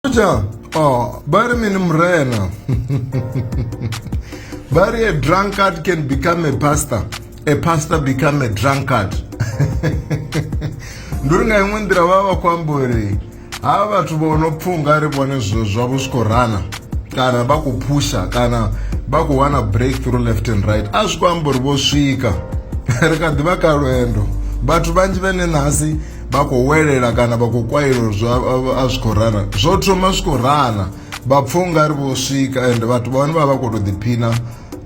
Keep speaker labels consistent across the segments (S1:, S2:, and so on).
S1: Kuja, oh, bari mini mrena. bari a drunkard can become a pastor. A pastor become a drunkard. nduri nga imwe nḓira vha vha khou amba uri ha vhathu vho no pfunga ri vhone zwithu zwavho zwi khou rana kana vha khou phusha kana vha khou wana breakthrough left and right a zwi khou amba uri vho swika ri kha ḓi vha ka lwendo vhathu vhanzhi vhene nasi vha khou welela kana vha khou kwailo a zwi khou rara zwo thoma zwi khou rana vha pfha u nga ri vho swika ende vhathu vha hone vha vha khou tou ḓiphina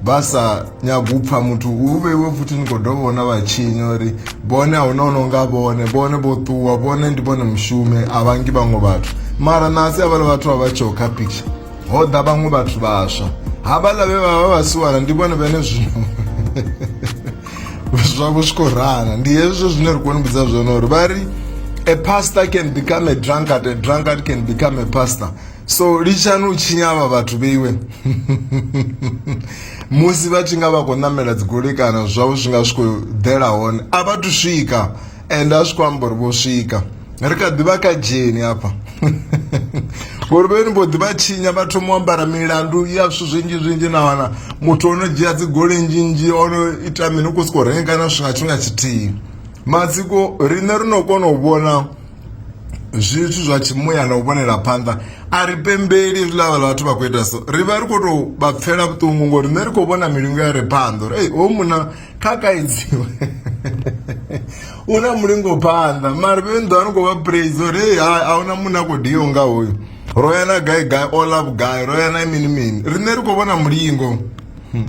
S1: vha sa nyagi u pfha muthu u vheiwe futhi ni khou dovha vhona vha tshinya uri vhone a huna ono nga vhone vhone vho ṱuwa vhone ndi vhone mushume a vhangi vhaṅwe vhathu mara nasi havhala vhathu vha vha tsheo kha picture ho ḓa vhaṅwe vhathu vhaswa havhala vhe vha vha vha siwana ndi vhone vhene zwino zwavho zwi khou rana ndi hezwo zwine ri koni vhudza zwone uri vha ri a pastor can become a drunkard a drunkard can become a pastor so litshani u tshinya avha vhathu vheiwe musi vha tshi nga vha khou ṋamela dzigoloi kana zwavho zwi nga zwi khou ḓela hone a vha thu swika ende a zwi khou amba uri vho swika ri kha ḓivha kha dzheni hafha ngori vheni vho ḓivha tshinya vha thoma u ambara milandu ya zwithu zwinzhi zwinzhi na wana muthu ono dzhia dzi goli nzhi nzhi ono ita mini u khou sokou renga kana zwithu nga tshifhinga tshithihi matsiko riṋe ri no kona u vhona zwithu zwa tshimuya na u vhonela phanḓa a ri pembeli zwiḽa vhala vhathu vha khou ita so ri vha ri khou tou vha pfela vhuṱungu ngori nṋe ri khou vhona milingo ya re phanḓa uri ei hoyu muna kha kaidziwe u na mulingo phanḓa mara vhe ndo no khou vha praise uri hey hai a huna munna khou dio nga hoyu ro ya na gai gai all love gai ro ya na mini mini riṋe ri khou vhona mulingo hmm.